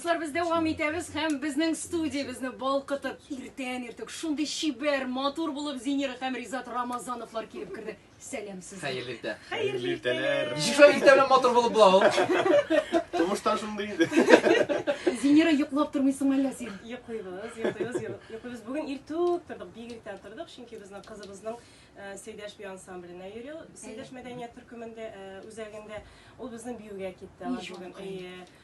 Дуслар, без дәвам итәбез һәм безнең студиябезне балкытып, иртән иртүк шундый чибәр, матур булып Зинира һәм Ризат Рамазановлар килеп керде. Сәлам сезгә. Хәерле иртә. Хәерле иртәләр. Ничек шулай иртә белән матур булып була ул? Тумыштан шундый инде. Зинира йоклап тормыйсың әллә син? Йоклыйбыз, йоклыйбыз, йоклыйбыз. Бүген иртүк тордык, бик иртә тордык, чөнки безнең кызыбызның э, Сәйдәш бию ансамбленә йөрү, Сәйдәш мәдәният төркемендә э, үзәгендә ул безнең биюгә китте. Ала Иж, бүген. ай. Әйе.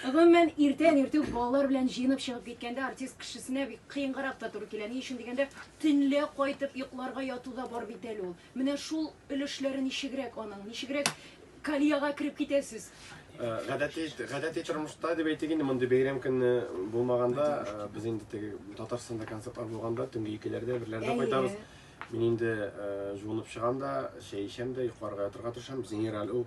Гомумән, иртән-иртүк үк балалар белән җыенып чыгып киткәндә артист кешесенә бик кыенгарак та туры килә. Ни өчен дигәндә, төнлә кайтып йокларга яту да бар бит әле ул. Менә шул өлешләре ничегрәк аның? Ничегрәк колеяга кереп китәсез? Гадәти гадәти тормышта дип әйтик инде, мондый бәйрәм көне булмаганда, без инде теге Татарстанда концертлар булганда төнге икеләрдә, берләрдә кайтабыз. Мин инде җуынып чыгам да, чәй эчәм дә, йокларга ятырга тырышам. Генераль ул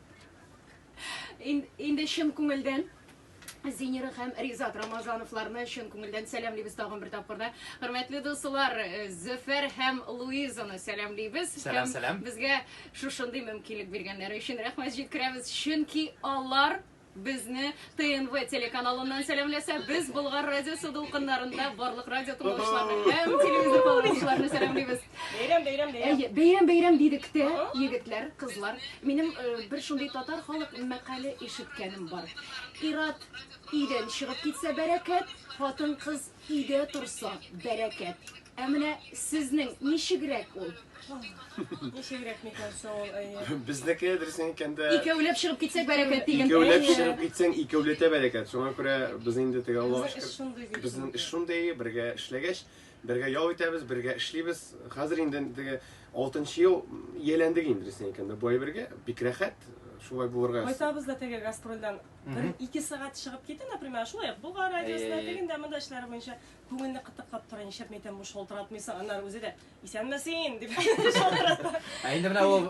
Инде чын күңелдән Зинер һәм Ризат Рамазановларны чын күңелдән сәламлибез тагын бер тапкырда. Хөрмәтле дуслар, э, Зөфәр һәм Луизаны сәламлибез. Сәлам, сәлам. Безгә шушындый мөмкинлек биргәннәре өчен рәхмәт җиткерәбез, чөнки алар безне ТНВ телеканалыннан сәламләсә, без Болгар радиосы дулкыннарында барлык радио тыңлаучыларны һәм телевизор тыңлаучыларны сәламлибез. Бәйрәм, бәйрәм, бәйрәм. Әйе, бәйрәм, бәйрәм дидек тә, егетләр, кызлар. Минем э, бер шундый татар халык мәкале ишеткәнем бар. Ират идән чыгып китсә бәрәкәт, хатын-кыз Өйдә торса, бәрәкәт. Ә менә сезнең ничегрәк ул? Ничегрәк микән соң ул, әйе? Безнеке дөресен әйткәндә, Икәүләп чыгып китсәк бәрәкәт диген. икәүләп Әйе. чыгып китсәң, икәүләтә бәрәкәт. Шуңа күрә без инде теге Аллага Безнең эш шөкер. шундый бит. Безнең эш шундый, бергә эшләгәч, бергә ял итәбез, бергә эшлибез. Хәзер инде теге алтынчы ел ияләндек инде, дөресен әйткәндә, бу әйбергә. Бик рәхәт шулай булырга. Кайтабыз да теге гастрольдән Бер ике сәгать чыгып китте, например, шулай ук Болгар радиосына, тегендә, монда эшләре буенча күңелне кытыклап тора, нишләп мәйтәм бу шалтыратмыйсың, аннары үзе дә исәнмесен дип шалтырата. Ә инде менә ул